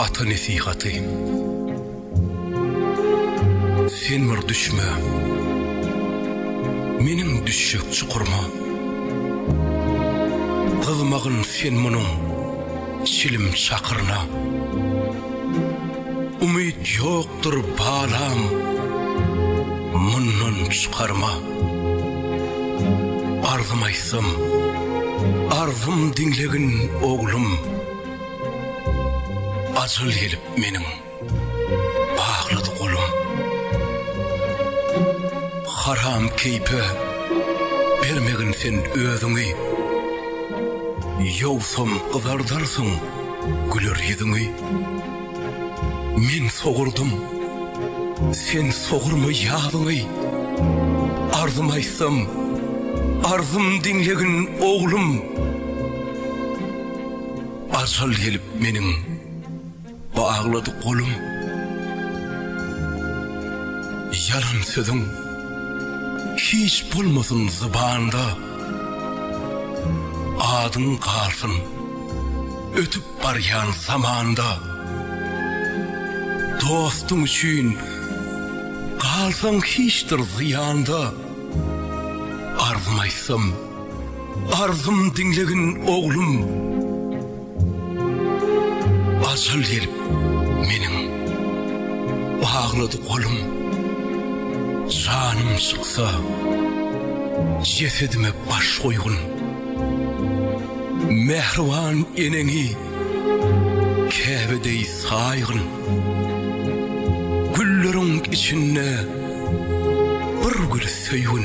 Ata nesihaty Sen bir düşme Meniň düşjek çukurma Gyzmagyn sen munuň Çilim çakyryna Umyt ýokdur balam Mundan çykarma Arzym aýtsam Arzym diňlegin oglum Ajal gelip meniň baglady golum. Haram keýpe bermegin sen özüňi. Ýogsam gyzardarsyň güler ýüzüňi. Men sogurdym, sen sogurma ýazyňy. Arzym aýtsam, arzym diňlegin oglum. Arsal gelip meniň baglady golum, Ýalan sözüň hiç bolmasyn zybanda, Adyň galsyn ötüp barýan zamanda, Dostuň üçin galsaň hiçdir zyýanda, Arzym aýtsam Arzym diňlegin oglum. Ajal gelip meniň baglady golum. Janym çyksa jesedime baş goýgun. Mähriban eneňi Käbe deý saýgyn. Gülleriň içinde bir güli söýgün.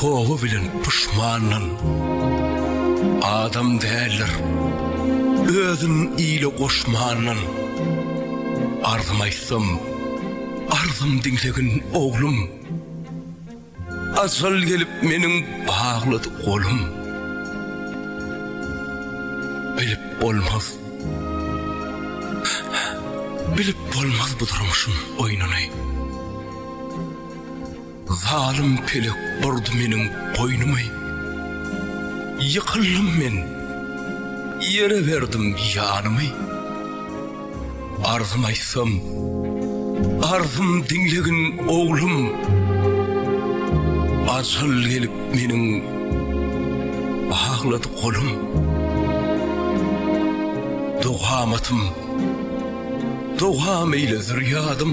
Toba bilen puşmanlan adam däldir. Özün ile goşmanlan arzym aýtsam, arzym diňlegin oglum. Ajal gelip meniň baglady golum. Bilip bolmaz. Bilip bolmaz bu durmuşyň oýnuny. Zalym pelek burdy meniň goýnumy, Ýykyldym men, ýere berdim ýanymy. Arzymy aýtsam, arzym diňlegin oglum, Ajal gelip meniň baglady golum. Dogamatym, dogam eýle zürýadym,